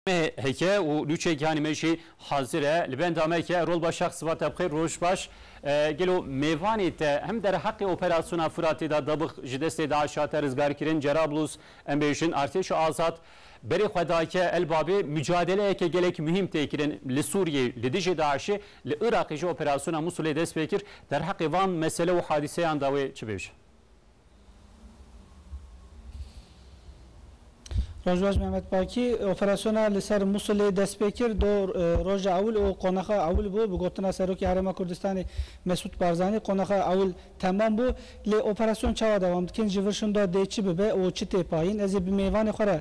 Me heke û nûçe gihanê me jî hazir e. Li benda me heke Rolba Şax Sibat te bi xêr roj baş. Gelo mêvanê te him derheqê operasyona Furatê de dabix ji destê DAIŞ hate rizgarkirin Cerablus em bêjin artêşa azad berê xwe dayke Elbabê mucadeleyeke gelek muhîm tê kirin li Sûriyê li dijê DAIŞê li Iraqê jî operasyona Musulê dest pê kir derheqê van mesele û hadiseyan de wê çi bêje? Rojbaş Mehmet Bakî, Operasyona li ser Musilê dest pê kir du roja ewil û qonaxa ewil bû. Bi gotina Serokê Herêma Kurdistanê Mesûd Barzanî, qonaxa ewil temam bû. Lê operasyon çawa dewam dikin? Ji vir şinda dê çi bibe û çi tê payîn? Ez ê bi mêvanê xwe re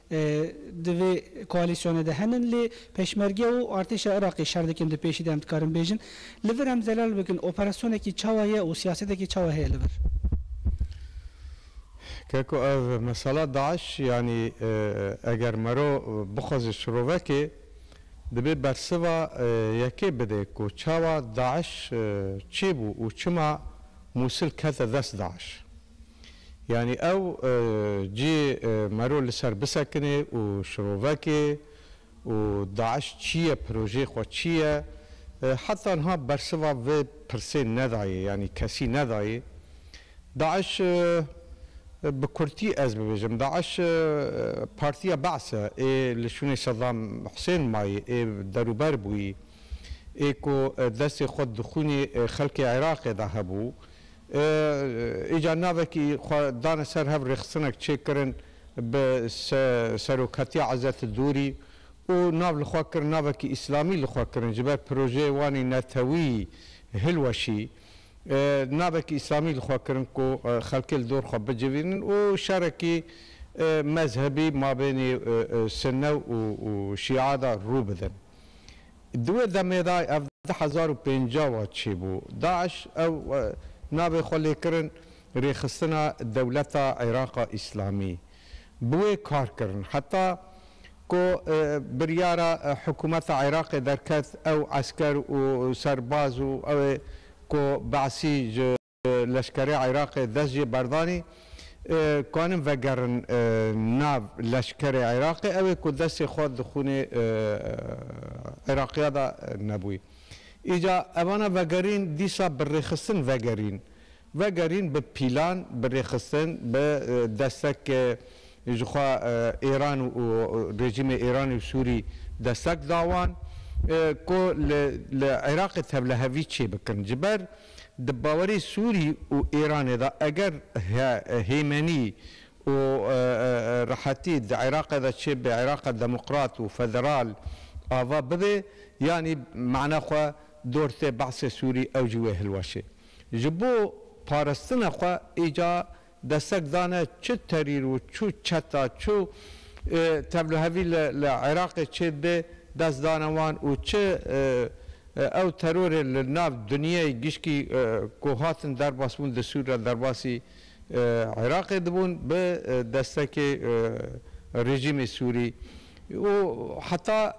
Di vê koalîsyonê de henin lê Peşmerge û artêşa Iraqê şer dikin di pêşî de em dikarin bêjin li vir em zelal bikin operasyonekî çawa ye û siyasetekî çawa heye li vir? Ke ku ev mesela DAIŞ yanî eger mero bixweze şirovekê dibê bersiva yekê bidê ku çawa DAIŞ çê bû û çima Mûsil kete dest DAIŞ. Yanî ew cî mero li ser bisekinê û şirovekê û DAIŞ çî ye, projeyê xwe çî ye? Heta niha bersiva vê pirsê nedayê yanî kesî nedayê. DAIŞ bi kurtî ez bibêjim, DAIŞ partiya Be's'e ê li şûnê Sedam Husên mayî ê derûber bûyî, ê ku destê xwe di xûnê xelkê Iraqê de hebû, Îcar navekî xwe dane ser hev rêxistinek çêkirin bi seroketiya Ezet Dûrî û nav li xwe kirin navekî îslamî li xwe kirin ji ber projeyê wan ê netewî hilweşî navekî îslamî li xwe kirin ku xelkê li dor xwe bicivînin û şerekî mezhebî mabênê sunne û şîa de rû bidin. Di wê demê de ev di hezar û pêncah wa çêbû. DAIŞ ew navê xwe lê kirin Rêxistina Dewleta Îraqa Îslamî. Bi wê kar kirin. Heta ku biryara hikûmeta Îraqê derket ew esker û serbaz û ew ê ku Be'sî ji. Leşkerê Iraqê dest jê berdanî kanin vegerin nav leşkerê Iraqê ewê ku destê xwe di xûnê Iraqîya de nebûy. Îca evana vegerîn dîsa bi rêxistin vegerîn. Vegerîn bi pîlan, bi rêxistin, bi destek ji xwe Îran û rejîmê Îranî û Sûrî destek da wan ku li Iraqê tevlihevî çêbikin. Ji ber. Di bawerê Sûrî û Îranê de eger hêmenî û rehetî di Iraqê de çêbibe, Iraqê demokrat û federal ava bibe, yanî mana xwe dor tê behsê Sûrî ew jî wê hilweşê. Ji bo parastina xwe îcar Destek dane çi terîr û çi çeta, çi tevlihevî li Iraqê çê dibe dest dane wan û çi ew terorê li nav dinyayê gişkî ku hatin derbasbûn di Sûr re derbasî Iraqê dibûn bi destekê rejîmê Sûrî û heta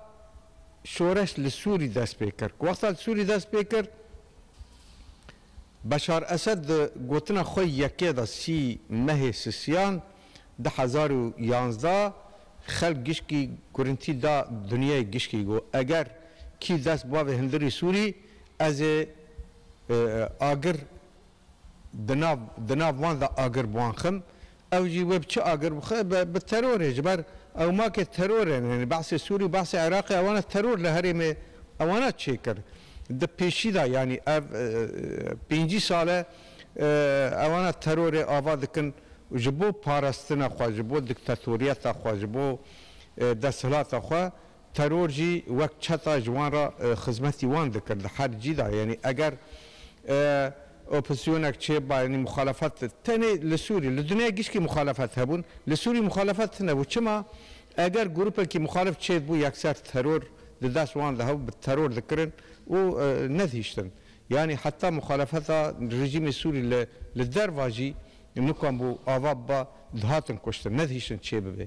şoreş li Sûrî dest pê kir. Wexta li Sûrî dest pê kir. Beşar Esed di gotina xwe yekê de sî mehê sisiyan du hezar û yanzdeh xelk gişkî gurintî da dinyayê gişkî got, Eger kî dest bavê hindirî Sûrî ez ê agir di nav di nav wan de agir bi wan xim, Ew jî wê bi çi agir bixe? Bi terorê. Ji ber ew makê teror in. Yanî behsê Sûrî û behsê Iraqê ewan e teror li herêmê ewana çêkir. Di pêşî de yanî ev pêncî sal e ewana terorê ava dikin û ji bo parastina xwe, ji bo diktatoriyeta xwe, ji bo desthilata xwe Teror jî wek çeta ji wan re xizmetî wan dikir di her cî de yanî eger opozîsyonek çêbiba yanî muxalefet tenê li Sûrî li dinyayê gişkî muxalefet hebûn li Sûrî muxalefet tinebû çima eger grûpekî muxalef çêdibû yekser teror di dest wan de hebû bi teror dikirin û nedihîştin yanî heta muxalefeta rejîmê Sûrî li li derva jî nikan bû ava biba dihatin kuştin nedihîştin çêbibê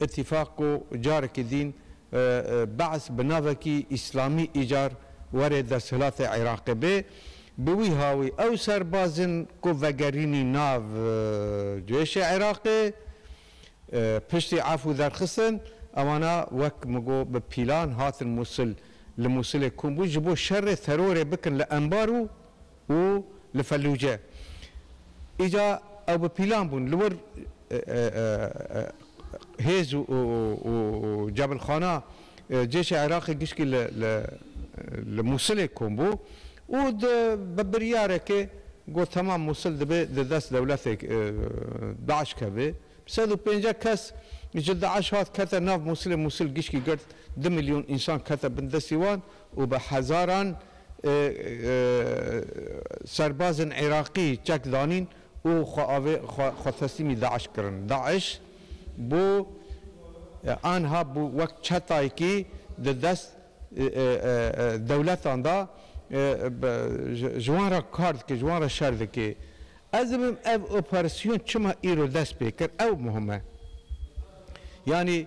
Îtîfaq ku carekî dîn Be'ss bi navekî Îslamî îcar were desthilatê Iraqê bê, bi wî hawî ew serbaz in ku vegerînî nav cêşê Iraqê piştî efû derxistin, ewana wek min got bi pîlan hatin Mûsil, li Mûsilê kom bûn ji bo şerê terorê bikin li Enbar û û li Fellûce. Îca ew bi pîlan bûn li wir hêz û cebilxana cêşa Iraqê gişkî li Mûsilê kom bû û bi biryarekê got temam Mûsil dibê di dest dewletê DAIŞ keve. Sed û pênceh kes ji DAIŞ hat kete nav Mûsilê, Mûsil gişkî girt du milyon însan kete bin destî wan. û bi hezaran serbazên Iraqî çek danîn û xwe teslîmî DAIŞ kirin. DAIŞ bû anha bû wek çetayekî di dest dewletan de ji wan re kar dike, ji wan re şer dike. Ez dibim ev operasyon çima îro dest pê kir ew muhim e. Yanî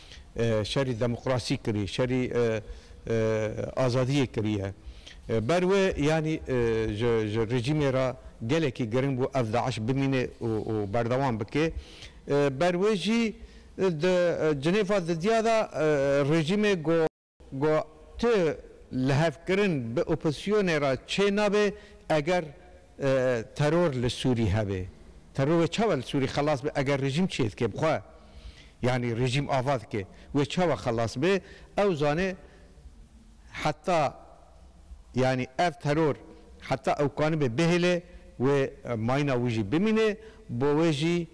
şerî demokrasî kirî, şerî azadiyê kiriye. Ber wê yanî ji rejîmê re gelekî giring bû ev DAIŞ bimînê û berdewam bike. Ber wê jî di cinêfa di diya de rejîmê ku. Go tu lihevkirin bi opozîsyonê re çê nabe eger teror li Sûrî hebe. Teror wê çawa li Sûrî xelas be eger rejîm çê dike bi xwe? Yanî rejîm ava dike wê çawa xelas be? Ew zane heta yanî ev teror heta ewkanibe bihêle wê mayîna wî jî bimîne bo wê jî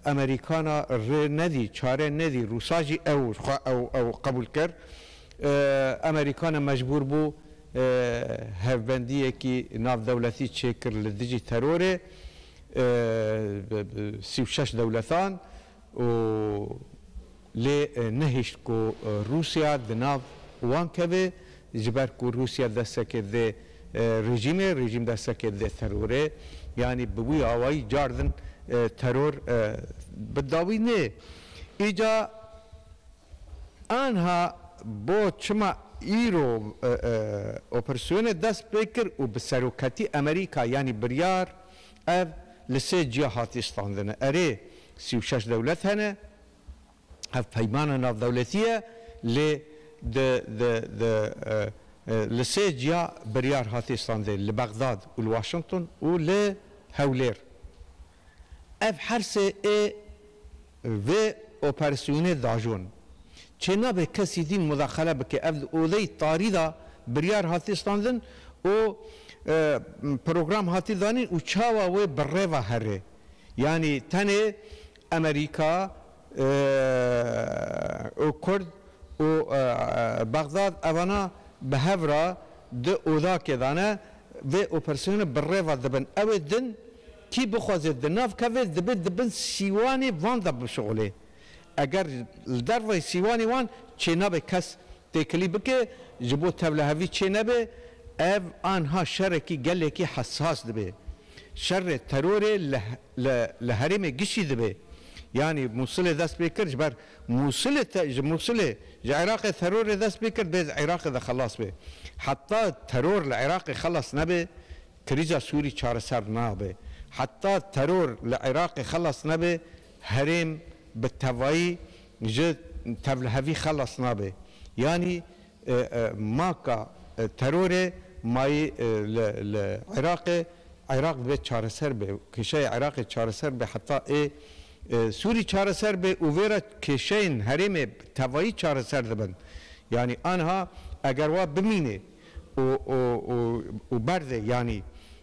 Amerîkana rê nedî, çare nedî. Rûsa jî ew xwe ew ew qebûl kir. Amerîkana mecbûr bû hevbendiyekî navdewletî çêkir li dijî terorê sî û şeş dewletan û. Lê nehişt ku Rûsya di nav wan keve ji ber ku Rûsya destekê didê rejîmê, rejîm destekê didê terorê. Yanî bi wî awayî car din teror bi dawî nê. Îca anha bo çima îro operasyonê dest pê kir û bi seroketî Amerîka yanî biryar ev li sê ciya hatiye standin. Erê sî û şeş dewlet hene hevpeymana navdewletî ye lê di di di li sê ciya biryar hatê standin li Bexdad û li Washington û li Hewlêr. Ev her sê ê vê operasyonê diajon. Çê nabe kesî dîn mudaxele bike. Ev di odeyî tarî de biryar hatê standin û program hatî danîn û çawa wê bi rêva herê. Yanî tenê Amerîka û Kurd û Bexdad evana bi hev re di odakê de ne, vê operasyonê bi rêve dibin. Ew ê din kî bixwazê di nav keve dibê di bin sîwanê van de bişuxulê. Eger li derveyî sîwanê wan çênabê kes Têkilî bike ji bo tevlihevî çê nebe, ev anha şerekî gelekî hesas dibe. Şerê terorê li li herêmê giştî dibe. Yanî Mûsilê dest pê kir ji ber Mûsilê ji Mûsilê ji Iraqê terorê dest pê kir dê Iraqê de xelas be. Heta teror li Iraqê xelas nebe krîza Sûrî çareser nabe. Heta teror li Iraqê xelas nebe Herêm bi tevayî ji tevlihevî xelas nabe. Yanî maka terorê mayî li Iraqê, Iraq divê çareser be, kêşeyê Iraqê çareser be heta ê Sûrî çareser be û vê re kêşeyên herêmê bi tevayî çareser dibin. Yanî aniha eger wa bimîne û berde yanî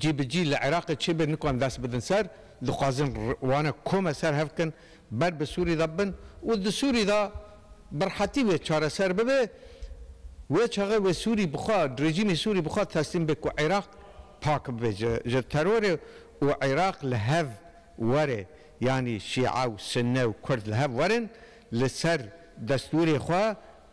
cî bi cî li Iraqê çêbê nikan dest bidin ser, dixwazin wane kome ser hev kin ber bi Sûrî de bin û di Sûrî de bi rehetî wê çareser bibe, wê çaxê wê Sûrî bi xwe rejîmê Sûrî bi xwe teslîm be ku Iraq pak bibe ji terorê û Iraq li hev were yanî şîe û sunne û kurd li hev werin li ser destûrê xwe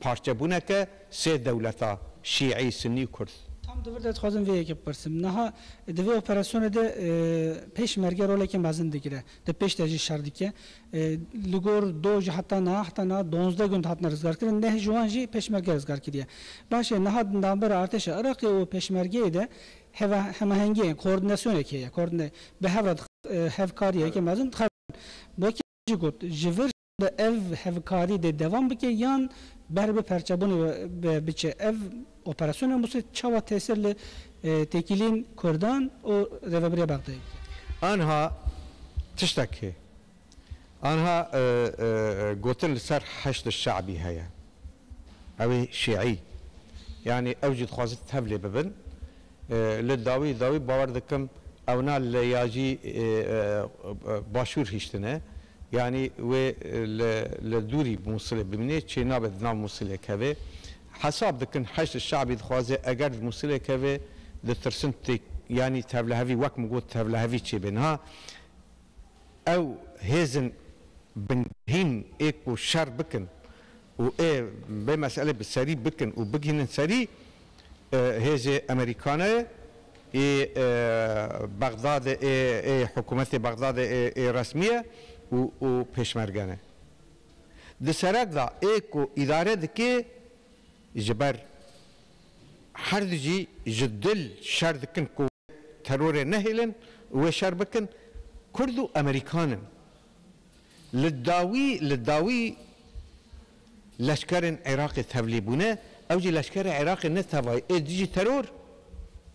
Parçebûneke sê dewleta, Şîî, Sinnî û Kurd. Tam di vir de dixwazim vê yekê bipirsim. Niha di vê operasyonê de pêşmerge roleke mezin digire. Di pêş de jî şer dike. Li gor doj heta niha heta niha duwazdeh gund hatine rizgarkirin. Neh ji wan jî pêşmerge rizgar kiriye. Baş e, niha di navbera artêşa Iraqê û pêşmergeyê de hemahengiyê, koordînasyoneke heye. Bi hev re hevkariyeke mezin dixebin. Wekî jî got, ji vir Bi ev hevkarî dê devam bike yan ber bi perçebûnê ve biçe? Ev operasyona Mûsrê çawa tesir li têkilîn kurdan û Rêveberiya Bexdayê dike? Anha tiştek heye. Anha gotin li ser Heşdê Şe'bî heye. Ew ê şî'î. Yanî ew jî dixwazin tevlê bibin. Li dawî dawî bawer dikim ewna li ya jî başûr hiştine. Yanî wê li li dûrî bi Mûsilê bimînê, çê nabe di nav Mûsilê kevê. Hesab dikin Heşd Şe'bî dixwaze eger di Mûsilê kevê, ditirsin tê yanî tevlihevî wek min got tevlihevî çê bê. Niha ew hêzên bingehîn ê ku şer bikin û ê vê meselê bi serî bikin û bigihînin serî hêzê Emerîkane ê Bexdadê ê ê hikûmetê Bexdadê ê ê resmîye û û pêşmergene. Di serek de ê ku îdare dike ji ber herd jî ji dil şer dikin ku. terorê nehêlin û wê şer bikin, Kurd û Amerîkan in. Li dawî li dawî leşkerên Iraqê tevlî bûne, ew jî leşkerê Iraqê ne tevayî ê dijî teror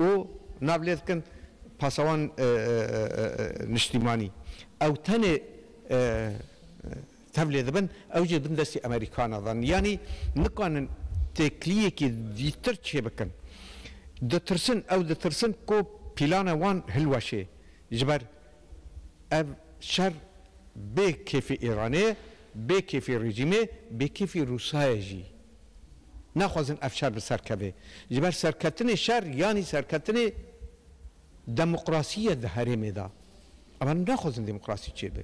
û nav lê dikin pasawan niştîmanî. Ew tenê tevlê dibin ew jî bin destê Amerîkana dan yanî nikanin têkiliyekî dîtir çêbikin. Ditirsin ew ditirsin ku pîlana wan hilweşê ji ber ev şer bê kêfî Îranê ye, bê kêfî rejîmê ye, bê kêfî Rûsa ye jî. Naxwazin ev şer bi ser keve. Ji ber serketinê şer yanî serketinê demokrasî ye di herêmê de. Em naxwazin demokrasî çêbe.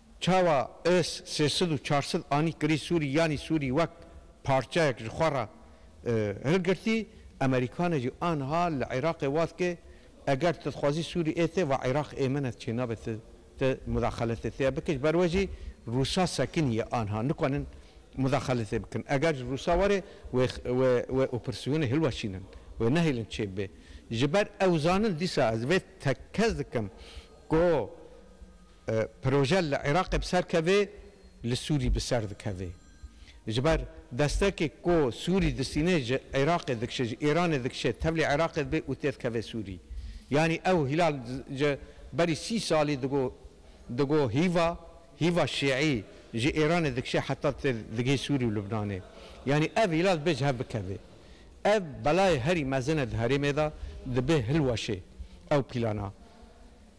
Çawa ez sê sid û çar sid anî kirî Sûrî yanî Sûrî wek parçeyek ji xwe re hilgirtî, Amerîkane jî aniha li Iraqê wat ke eger tu dixwazî Sûrî ê te va Iraq ê min e çênabe tu tu mudaxeletê tê bike ji ber we jî Rûsa sekinî ye aniha nikanin mudaxeletê bikin eger ji Rûsa were wê wê wê opersyonê hilweşînin wê nehêlin çêbibe ji ber ew zanin dîsa ez vê tekez dikim ku Proje li Iraqê bi ser kevê, li Sûrî bi ser dikevê. Ji ber destekê ku Sûrî distînê ji Iraqê dikişê, ji Îranê dikişê, tevlî Iraqê dibe û tê dikeve Sûrî. Yanî ew Hîlal ji berî sî salî digo digo hîva hîva şîî ji Îranê dikişê heta tê digihê Sûrî û Lubnanê. Yanî ev Hîlal dibe ji hev bikeve. Ev belayê herî mezin e di herêmê de, dibe hilweşê ew pîlana.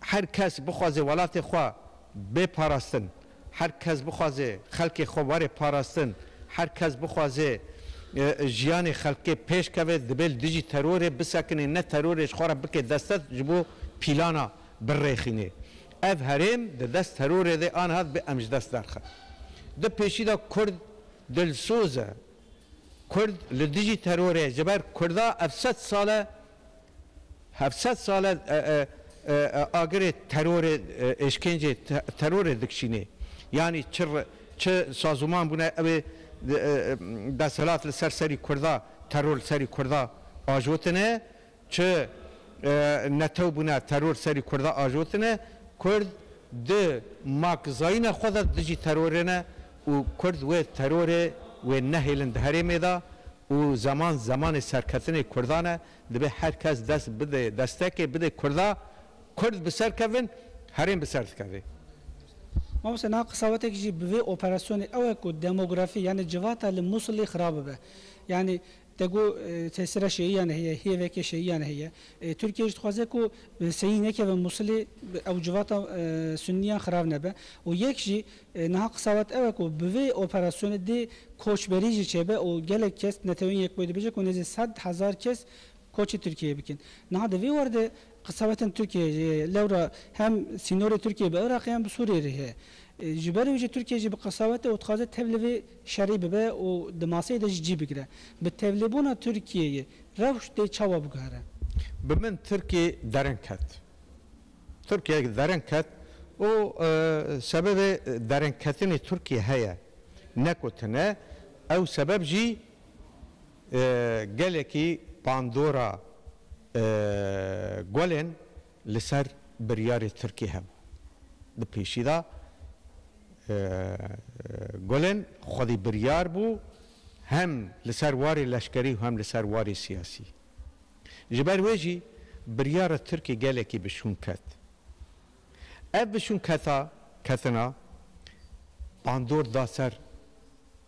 Her kes bixwaze welatê xwe bê parastin, her kes bixwaze xelkê xwe were parastin, her kes bixwaze jiyanê xelkê pêş keve, dibe li dijî terorê bisekinê, ne terorê ji xwe re bike destest ji bo pîlana birêxînê. Ev herêm di dest terorê de aniha dibe em ji dest derxin. Di pêşî de kurd dilsoz e. Kurd li dijî terorê ye. Ji ber kurda ev sed sal e Heft sed sal e agirê terorê, êşkencê terorê dikişînê. Yanî çi çi sazûman bûne ew ê desthilat li ser serî kurda, teror li serî kurda ajotine, çi netew bûne teror li serî kurda ajotine. Kurd di makzayîna xwe de dijî terorê ne. û kurd wê terorê wê nehêlin di herêmê de û zeman zemanê serketinê kurdan e dibê her kes dest bide destekê bide kurda kurd bi ser kevin herêm bi ser dikeve. Mamoste niha qisa we teke jî bi vê operasyonê ew e ku demografî yanî civata li Musilê xira bibe. Yanî Te got tesîra şeyiyan heye, hêveke şeyiyan heye. Tirkiye jî dixwaze ku seyî nekeve Mûsilê, ew civata Sunniyan xirav nebe. Û yek jî niha qisa wat ew e ku bi vê operasyonê dê koçberî jî çêbe û gelek kes Neteweyên Yekbûyî dibêje ku nêzî sed hezar kes koçê Tirkiyeyê bikin. Niha di vê werde Qisewetên Tirkiyeyê jî lewra hem sînorê Tirkiyeyê bi Iraqê hem bi Sûriyeyê re heye. Ji ber wî jî Tirkiye jî bi qisewet e û dixwaze tev li vê şerî bibe û di maseyê de jî cî bigire. Bi tevlêbûna Tirkiyeyê rewş dê çawa biguhere? Bi min Tirkiye derin ket. Tirkiye derin ket û sebebê derinketinê Tirkiye heye. Ne ku tune ew sebeb jî. Gelekî pandora Gulên li ser biryarê Tirkî hebû. Di pêşî de Gulên xwedî biryar bû hem li ser warê leşkerî û hem li ser warê siyasî. Ji ber wê jî biryara Tirkî gelekî bi şûn ket. Ev bi şûn keta ketina pandor da ser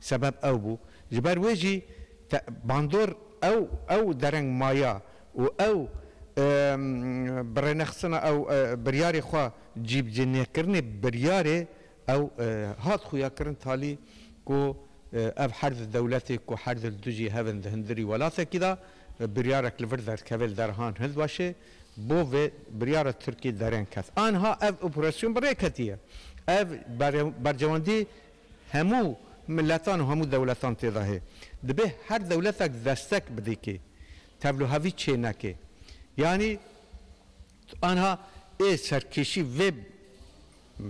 Sebeb ew bû. Ji ber wê jî te bandor ew ew dereng maya û ew bi rênexistina ew biryarê xwe cîbicênêkirinê biryarê ew hat xuyakirin talî ku ev her di dewletê ku her di li dijî hev in di hundirî welatekî de biryarek li vir derkeve li derehan hind weşê bo vê biryara Tirkiyê dereng ket. Anha ev operasyon bi rê ketiye. Ev bercewendî Hemû miletan û hemû dewletan tê de hê. Dibê her dewletek destek bidê kê tevlûhevî çê neke. Yanî anha ê serkêşî vê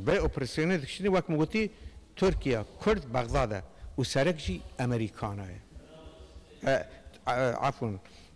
vê operasyonê dikişîne wek min gotî Tirkiye, Kurd, Bexdad e û serek jî Amerîkana ye. Afûn.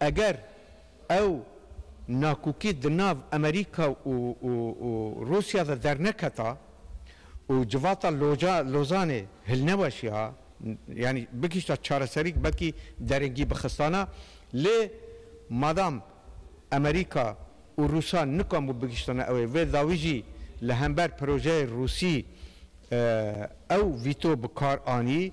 Eger ew nakokî di nav Amerîka û Rûsya de derneketa û civata Lozanê hilneweşiha, yanî bigihîşta çareserîk belkî derengî bixistana, lê madam Amerîka û Rûsan nikambû bigihîştana ew ê, vê dawî jî li hember pirojeyê Rûsî ew vîto bi kar anî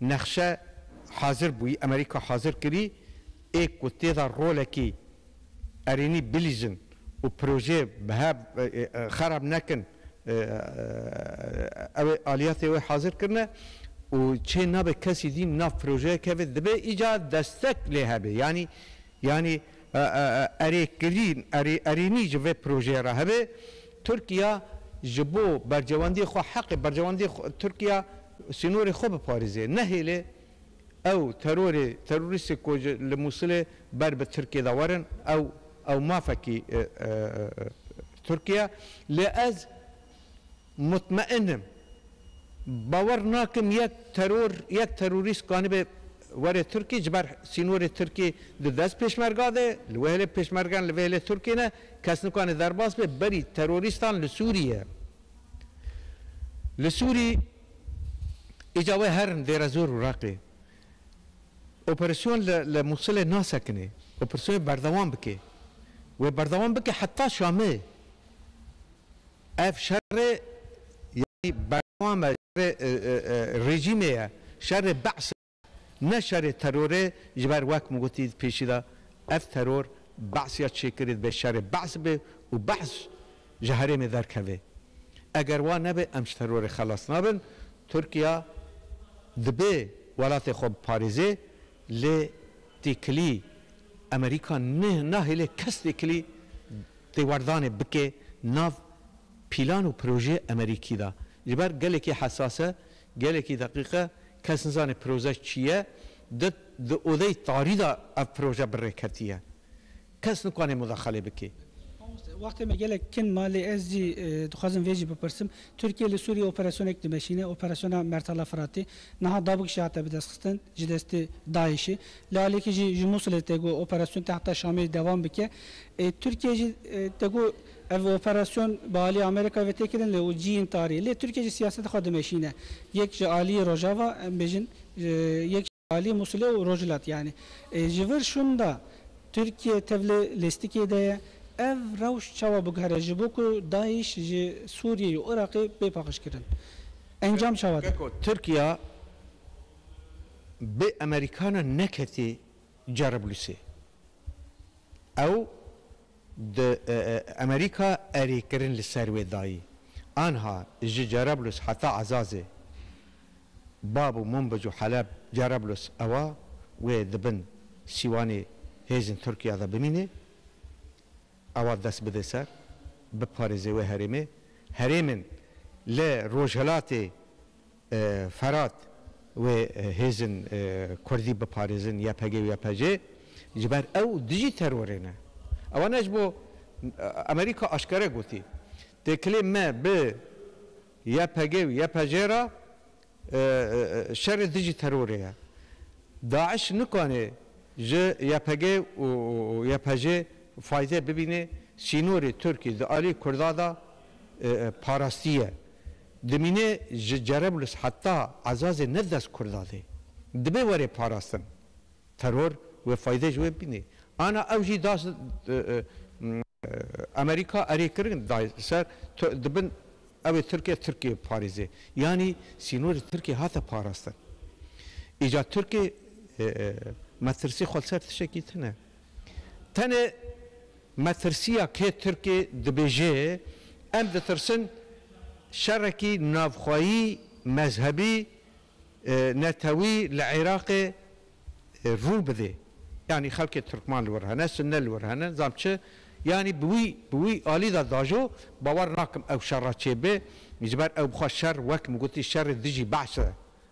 Nexşe hazir bûyî, Amerîka hazir kirî ê ku têda rolekî erênî bilîzin û projeyê bihev xerab nekin ew ê aliyatê wê hazir kirine û çê nabe kesî dîn nav projeyê keve dibe îcar destek lê hebe yanî yanî Erê kirîn, erê erênî ji vê projeyê re hebe. Tirkiya ji bo bercewendiyê xwe, heqê bercewendiyê xwe, Tirkiya sînorê xwe biparêze. Nehêle ew terorê, terorîstê ku ji li Mûsilê ber bi Tirkiyê de werin, ew ew mafekî Tirkiye. Lê ez. Mutmeîn im. Bawer nakim yek teror, yek terorîst kanibe were Tirkî ji ber sînorê Tirkî di dest pêşmerga de, li wê hêlê pêşmergan li vê hêlê Tirkî ne, kes nikane derbas be berî terorîstan li Sûrîye. Li Sûrî îca wê herin Dêrezor û Reqê. Operasyon li li Mûsilê nasekinê. Operasyonê berdewam bike. Wê berdewam bike heta Şamê. Ev şerê yanî berdewam e şerê rejîmê ye, şerê Be'sê ye, ne şerê terorê ji ber wek min gotî di pêşî de ev teror Be'sî ya çêkirî dibe şerê Be'sî be û Be'sî ji herêmê derkeve. Eger wa nebe em ji terorê xelas nabin. Tirkiye dibe welatê xwe biparêze Lê têkilî Amerîka nahêle kes têkilî têwerdanê bike nav pîlan û pirojeyê Amerîkî de. Ji ber gelekî hesas e, gelekî deqîq e, kes nizane piroje çi ye, di odeyê tarî de ev piroje bi rê ketiye. Kes nikwane mudaxale bike. Mamoste, wextê me gelek kin ma lê ez jî dixwazim vê jî bipirsim. Tirkiye li Sûriyê operasyonek dimeşîne, operasyona Mertala Firatê. Niha davik jî hate bidestxistin ji destê DAIŞ'ê. Li aliyekê jî ji Mûsilê tê got operasyon tê heta Şamê dewam bike. Tirkiye jî tê got ev operasyon bi aliyê Amerîkayê ve tê kirin lê û ciyên tariyê. Lê Tirkiye jî siyaseta xwe dimeşîne. Yek ji aliyê Rojava em bêjin yek. Aliyê Mûsilê û Rojhilat yanî ji vir şûnda Tirkiye tev li lêstikê de ye. Ev rewş çawa biguhere ji bo ku DAIŞ ji Sûriyê û Iraqê bê paqijkirin? Encam çawa dibe? Tirkiya bê Amerîkana neketê Cerablusê. Ew Di Amerîka erê kirin li ser wê dayî. Anha ji Cerablus heta Ezazê, Bab û Munbic û Heleb, Cerablus ewa wê di bin sîwanê hêzên Tirkiya de bimînê, ewa dest bidê ser, biparêzê wê herêmê. Herêmên li Rojhilatê. Ferat, wê hêzin kurdî biparêzin ypg û ypc ji ber ew dijî terorê ne. Ewana ji bo Amerîka aşkere gotî, Têkilê me bi ypg û ypc re şerê dijî terorê ye. Daiş nikanê ji ypg û ypc fayde bibînê, sînorê Tirkî di alî kurda de parastiye. Dimîne ji Cereblus heta Ezazê ne dest Kurda dê. Dibe were parastin. Teror wê fayde ji wê bînê. Ana ew jî da Amerîka erê kirin da ser di bin ew ê Tirke Tirkiyê biparêze. Yanî sînorê Tirkiyê hate parastin. Îca Tirkê metirsî xwe li ser tişekî tune. Tenê Metirsiya kê Tirkê dibêje, Em ditirsin şerekî navxweyî, mezhebî, netewî li Iraqê rû bide. Yanî xelkê Tirkman li wir hene, Sunne li wir hene, nizam çi. Yanî bi wî bi wî alî de dajo, bawer nakim ew şera çêbe, ji ber ew bi xwe şer wek min gotî şerê dijî behs e.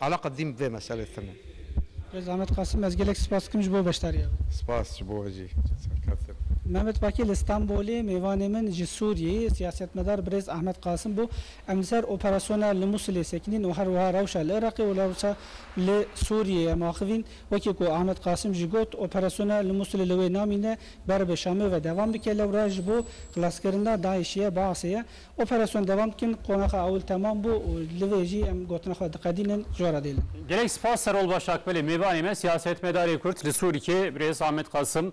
Ala qedîm bi vê meselê tune. Bi zehmet Qasim ez gelek spas dikim ji bo beşdariya wî. Spas ji bo we jî serkeft in. Mehmet Pakî li Stenbolê mêvanê min ji Sûriyeyê siyasetmedar birêz Ahmet Qasim bû. Em li ser operasyona li Mûsilê sekinîn û herwiha rewşa li Iraqê û rewşa li Sûriyeyê em axivîn. Wekî ku Ahmet Qasim jî got, operasyona li Mûsilê li wê namîne beribe Şamê ve devam bike lewra ji bo xlaskirina DAIŞ'ê ye, Baasê ye. Operasyon devam dikin, qonaxa ewil temam bû û li vê jî em gotina xwe diqedînin, ji we re dêlin. Gelek spas Serol Başakbelê mêvanê me, siyasetmedarê Kurd li Sûriyê birêz Ahmet Qasim.